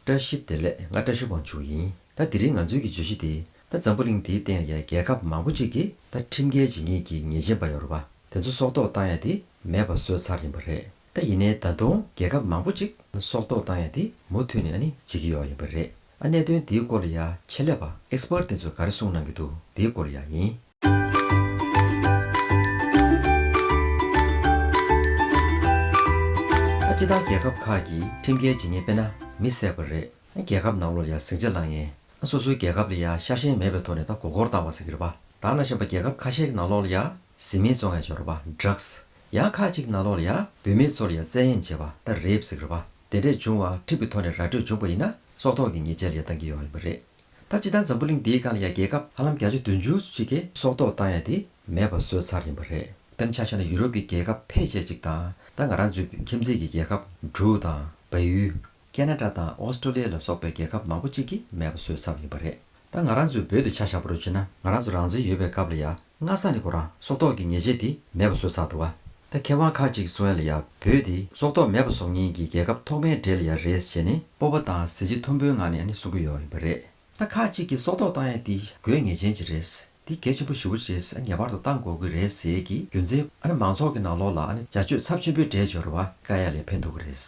བཀྲ་ཤིས་བདེ་ལེགས་ང་བཀྲ་ཤིས་དབང་ཕྱུག་ཡིན་ད་དེ་རིང་ང་ཚོའི་གི་བརྗོད་གཞི་དེ་ད་འཛམ་བུ་གླིང་དེའི་སྟེང་ལ་ཡ་རྒྱལ་ཁབ་མང་པོ་གཅིག་གི་ད་ཁྲིམས་འགལ་ཇི་སྙེད་ཀྱི་ཉེས་ཅན་པ་ཡོ་རོ་པ་དེ་ཚོ་སྲོག་ཐོག་བཏང་ཡ་དེ་མེད་པ་བཟོས་ཚར་ཡིན་པ་རེད་ད་ཡིན་ནའི་ད་དུང་རྒྱལ་ཁབ་མང་པོ་གཅིག་སྲོག་ཐོག་བཏང་ཡ་དེ་མུ་མཐུད་ནས་ཨ་ནི་བྱེད་ཀྱི་ཡོག་ཡིན་པ་རེད་ཨ་གནད་དོན་དེའི་སྐོར་ལ་ཡ་ཆེད་ལས་པ Expert དེ་ཚོས་ག་རེ་གསུངས་གནང་གི་འདུག་དེའི་སྐོར་ལ་ཡ་ཡིན། སྤྱི་དང་རྒྱལ་ཁབ་ཁག་གིས་ཁྲིམས་འགལ་ཇི་སྙེད་སྤེལ་ན་མི་བསད་པ་རེད། རྒྱལ་ཁབ་ནང་ལོར་ཡང་ཟིང་ཆ་བསླངས་ངེས། སོ་སོའི་རྒྱལ་ཁབ་ལ་ཡང་ཤ་ཞེན་མེད་པའི་ཐོག་ནས་ད་མགོ་སྐོར་བཏང་བ་ཟེར་གྱི་རེད་པ། ད་ན་ཞེན་པ་རྒྱལ་ཁབ་ཁ་ཤས་ཀྱི་ནང་ལོག་ལ་ཡང་ཟི་མིན་བཙོ་ངས་བྱོས་རོགས་པ Drugs། ཡང་ཁག་ཅིག་གི་ནང་ལོག་ལ་ཡང་བུད་མེད་ཚོ་ལ་ཡང་བཙན་གཡེམ་བྱས་པ་ད་རེད་ཟེར་གྱི་རེད་པ། དེ་འདྲས་བྱུང་བ་ཁྲིམས་ཀྱི་ཐོག་ནས་ར་སྤྲོད་བྱུང་པ་ཡིན་ན་སྲོག་ཐོག་གི་ཉེས་ཆད་ལ་ཡང་བཏང་གི་ཡོང་ཡོད་པ་རེད། ད་ཅི་ལྟར་འཛམ་བུ་གླིང་འདིའི་སྒང་ལ་ཡང་རྒྱལ་ཁབ་ཧ་ལམ་བརྒྱ་ཆ་བདུན་ཅུ་གཅིག་གིས་སྲོག་ཐོག་བཏང་ཡ་དེ་མེད་པ་བཟོས་ཚར་ཡིན་པ་རེད་དཔེར་ཆ་བྱས་ན་ཡུ་རོབ་ཀྱི་རྒྱལ་ཁབ་ཕལ་ཆེར་ཅིག་དང་ད་ང་རང་འཛུལ་བའི་ཁྱིམ་མཚེས་ཀྱི་རྒྱལ་ཁབ་འབྲུག་དང་བལ་ཡུལ། ཀན་ན་ཀྲ་དང་ཨོ་སྟྲོ་ལི་ཡ་ལ་སོགས་པའི་རྒྱལ་ཁབ་མང་པོ་ཅིག་གིས་མེད་པ་བཟོས་ཚར་ཡིན་པ་རེད་ད་ང་རང་ཚོས་བོད་དུ་ཆ་བཞག་པ་རུ་བྱེད་ན་ང་རང་ཚོ་རང་བཙན་ཡོད་པའི་སྐབས་ལ་ཡང་སྔ་ས་ནས་ཁོ་རང་སྲོག་ཐོག་གི་ཉེས་ཆད་དེ་མེད་པ་བཟོ་ཚར་འདུག་བ། ད་མཁས་དབང་ཁག་ཅིག་གསོན་ལ་ཡ་བོས་དེ་སྲོག་ཐོག་མེད་པ་བཟོ་ངེས་ཀྱི་རྒྱལ་ཁབ་ཐོག་མའི་འབྲེལ་ཡ་རེད་ཞེས་ནས་སྤོབས་པ་དང་གཟི་བརྗིད་མཐོན་པོའི་ངང་ནས་ནས་གསུང་གི་ཡོད་ཡིན་པ་རེད། ད་ཁག་ཅིག་གིས་སྲོག་ཐོག་བཏང་ཡ་དེ་དགོས་ངེས་ཅན་ཅིག་རེད། དེ་གལ་ཆེན་པོ་ཞི་བོ་ཆེ་ས་ངེས་པར་དུ་བཏང་དགོས་ཀྱི་རེད་ཟེར་གྱི་རྒྱུ་མཚན་ཨ་ནི་མང་ཚོགས་ཀྱི་ནང་ལོགས་ལ་ཨ་ནི་བྱ་སྤྱོད་ཚབས་ཆེན་པོའི་འདྲེས་སྦྱོར་བ་ཀ་ཡ་ལས་འཕེན་འདུག་གི་རེད།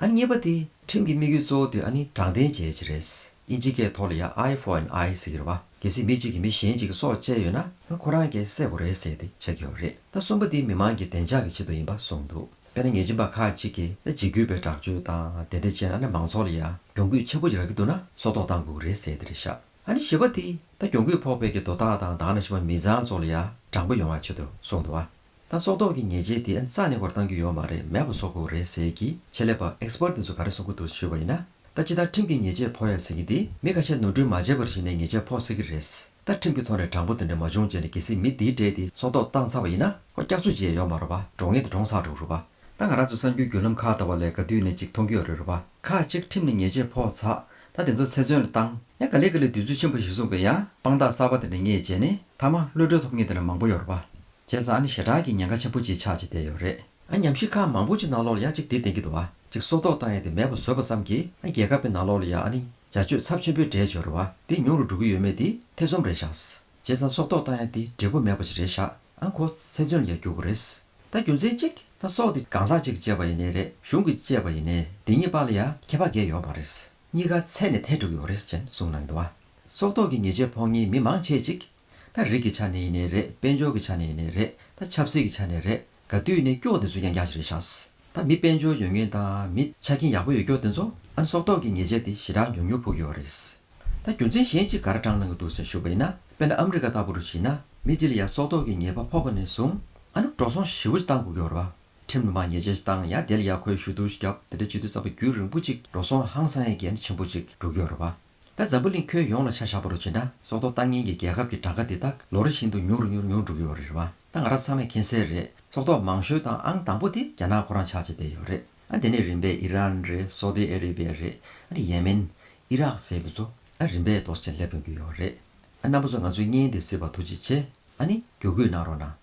ཨ་ནི་གཉིས་པ་དེ། ཁྲིམས་ཀྱི་དམིགས་ཡུལ་གཙོ་བོ་དེ་ཨ་ནི་དྲང་བདེན་བྱེད་ཡ་ཅིག་རེད། དབྱིན་ཇི་སྐད་ཐོག་ལ་ཡ Eye for an Eye ཟེར་གྱི་རེད་བ། གལ་སྲིད་མི་གཅིག་གིས་མི་གཞན་གཅིག་གི་སྲོག་བཅད་ཡོད་ན་ང་ཁོ་རང་གས་བསད་དགོས་རེད་ཟེར་ཏེ་ཆགས་ཀྱི་ཡོད་རེད་ད་གསུམ་པོ་འདི་མི་མང་གི་བདེ་འཇགས་ཀྱི་ཆེད་དུ་ཡིན་པ་གསུངས་འདུག་དཔེར་ན་ཉེས་ཅན་པ་ཁག་གཅིག་གིས་ན་འཇིགས་སྐུལ་བའི་དྲག་སྤྱོད་དང་དེ་འདྲ་བྱས་ན་ན་མང་ཚོགས་ལ་ཡང་གྱོང་གུད་ཆེན་པོ་ཞིག་རག་གི་འདུག་ན་སྲོག་ཐོག་བཏང་དགོས་རེད་ཟེར་ཏེ་རེད་ཤག་ཨ་ནི་ཞེས་པ་འདི་ད་གྱོང་གུད་ཕོག་པའི་གི་དོ་བདག་དང་བདག་ན་ཞེས་པ་མི་ཚང་ཚོ་ལ་ཡང་དྲང་པོ་ཡོང་བའི་ཆེད་དུ་གསུངས་འདུག་ཨ། ད་སྲོག་ཐོག་གི་ཉེས་ཆད་དེ་རྩ་ནས་འགོར་བཏང་རྒྱུ་ཡོད་མ་རེད་མེད་པ་སོག་པོ་རེད་ཟེར་གི་ཆེད་ལས་པ Expert དེ་ཚོ་ག་རེ་གསུང་གི་འདུག་ཞུས་པ་ཡིན་ན། ད་ཅི་ལྟར་ཁྲིམས་ཀྱི་ཉེས་ཆད་ཕོག་ཡ་ཟེར་གི་འདི་མི་ཁ་ཤས་ནོར་འཁྲུལ་མ་བྱས་པར་གཞི་ནས་ཉེས་ཆད་ཕོག་སྲིད་གི་རེད། ད་ཁྲིམས་ཀྱི་ཐོག་ནས་དྲང་པོ་དེ་འདྲ་མ་བྱུང་རྗེས་ནས་གལ་སྲིད་མི་འདིའི་གྲས་དེ་སྲོག་ཐོག་བཏང་ཚར་བ་ཡིན་ན། ཁོ་སྐྱག་ཚུད་རྗེས་ཡོང་མ་རུང་བ་འགྲོ་ངེས་དེ་འདྲོངས་ཚར་འགྲོ་རུ་བ། ད་ང་རང་ཚོའི་གསར་འགྱུར་བརྒྱུད་ལམ་ཁག་ད་བར་ལས་ག་དུས་ནས་ཅིག་མཐོང་རྒྱུ་ཡོད་རེད་རུ་བ། ཁག་ཅིག་ཁྲིམས་ནས་ཉེས་ཆད་ཕོག་ཚ། ད་དེ་ཚོ་ཚེ་བཙོན་ལ་བཏང། ཡང་ག་ལེ་ག་ལེ་དུས་ཚོད་ཕྱིན་པ་ཞིག་གསུངས་པས་ཡང་དཔང་རྟགས་གསར་བ་དེ་འདྲ་རྙེད་རྗེས་ནས་མཐའ་མ་གློད་གྲོལ་ཐོབ་ངེས་དེ་འདྲ་མང་པོ་ཡོད་རུ་བ། བྱས་ཙང་ཨ་ནི་ཞེ་དྲག་གི་ཉེན་ཁ་ཆེན་པོ་གཅིག་ཆགས་ཀྱི་བསྡད་ཡོད་རེད། ཨ་ཉམས་ཞིབ་ཁ་མང་པོ་གཅིག་ནང་ལོགས་ལ་ཡང་གཅིག་འདི་དེང་གི་འདུག་བ་གཅིག་གསོག་འདོགས་བཏང་ཡས་དེ་མེད་པ་བཟོས་པ་ཙམ་གྱིས་ཨ་རྒྱལ་ཁབ་པའི་ནང་ལོགས་ལ་ཡང་ཨ་ནི་བྱ་སྤྱོད་ཚབས་ཆེན་པོའི་འདྲེས་འཇོར་རེ་བ་འདི་ཉུང་རུ་འགྲོ་གི་ཡོད་མེད་འདི་ཐེ་ཚོམ་རེད་ཤགས། བྱས་ཙང་གསོག་འདོགས་བཏང་ཡས་འདི་འབྲས་བུ་མེད་པ་ཅིག་རེད་ཤགས་ཨ་མཁོ་ཚེ་བཙོན་ལ་ཡང་རྒྱུག་དགོས་རེད། ད་རྒྱུ་མཚན་གཅིག་ད་གསོག་འདི་གང་ཟག་གཅིག་གི་བཅད་པ་ཡིན་ནའི་རེད་གཞུང་གི་བཅད་པ་ཡིན་ནའི་འདི་གཉིས་པ་ལ་ཡང་ཁྱད་པ་འགས་ཡོད་མ་རེད། གཉིས་ཀ་ཚད་ནས་ཐལ་འགྲིག་ཡོད་རེད་ཅེན་གསུངས་གནང་གི་འདུག་བ། གསོག་འདོགས་ཀྱི་ཉེས་ཆད་ཕོག་གཉིས་མི་མང་ཆེ་གཅིག་ད་རིགས་ཀྱི་ཆ་ནས་ནས་རེད་དཔལ་འབྱོར་གྱི་ཆ་ནས་ནས་རེད་ད་ཆབ་སྲིད་ཀྱི་ཆ་ནས་རེད་ག་དུས་ནས་སྐྱོག་དེ་ཚོ་ཡང་རྒྱག་བཞིན་རེད་ཤགས། ད་མི་དཔལ་འབྱོར་ཡོད་ངེས་དང་མི་ཆ་རྐྱེན་ཡག་པོ་ཡོད་སྐྱོག་དེ་ཚོ་ཨན་སོག་ཏོག་གི་ངེས་ཆད་དེ་ཞེ་དྲག་མྱུར་མྱུར་ཕུག་ཡོད་རེད། ད་རྒྱུ་མཚན་གཞན་གཅིག་ག་ར་དྲང་གནང་གི་འདུག་ཟེར་ཞུ་བ་ཡིན་ན་དཔེར་ན་ཨ་མི་རི་ཀ་ལྟ་བུ་རུ་བྱིན་ན་མི་ལྕི་ལི་ཡ་སོག་ཏོག་གི་ངེས་པ་ཕོག་པ་ནས་བཟུང་ཨ་ནུ་འགྲོ་སོང་ཞི་བོ་ཅིག་བཏང་དགོས་ཀྱི་ཡོད་རེད་པ། ཁྲིམས་ལུང་པ་ངེས་ཅན་ཞིག་བཏང་ཡ་དེ་ལ་ཡ་ཁོའི་ཞུ་གཏུག་ཞིག་བརྒྱབ་དེ་འདྲ་བྱེད་དུས་ས་བ་རྒྱུད་རིང་པོ་ཅིག་འགྲོ་སོང་ཧང་སང་ཡ་གན་ཆེན་པོ་ཅིག་འགྲོ་གི་ཡོད་རེད་པ། ད་འཛམ་བུ་གླིང་ཁྱོན་ཡོངས་ལ་ཆ་བཞག་པ་རུ་བྱེད་ན་སྲོག་ཐོག་བཏང་ཉིན་གྱི་རྒྱལ་ཁབ་ཀྱི་གྲངས་ཀ་དེ་དག་ལོ་རེ་བཞིན་དུ་ཉུང་རུ་ཉུང་རུ་ཉུང་རུ་འགྲོ་གི་ཡོད་རེད་བ། ད་ང་རང་ཚང་མས་མཁྱེན་གསལ་རེད་སྲོག་ཐོག་མང་ཤོས་དང་ཨང་དང་པོ་དེ་རྒྱ་ནག་ཁོ་རང་ཆགས་བྱེད་བསྡད་ཡོད་རེད་ཨ་དེ་ནས་རིམ་པས་ཨི་རན་རེད་སོ་ཏི་ཨེ་རེ་པེ་རེད་ཨ་དེ་ཡེ་མེན། ཨི་རག་ཟེར་དེ་ཚོ་ཨ་རིམ་པས་དོགས་ཟིན་སླེབས་ཡོང་གི་ཡོད་རེད་ཨ་རྣམ་པ་ཚོ་ང་ཚོའི་བརྙན་དེ་གཟིགས་པར་ཐུགས་རྗེ་ཆེ་ཨ་ནི་གྱོ་གུད་གནང་རོགས་གནང།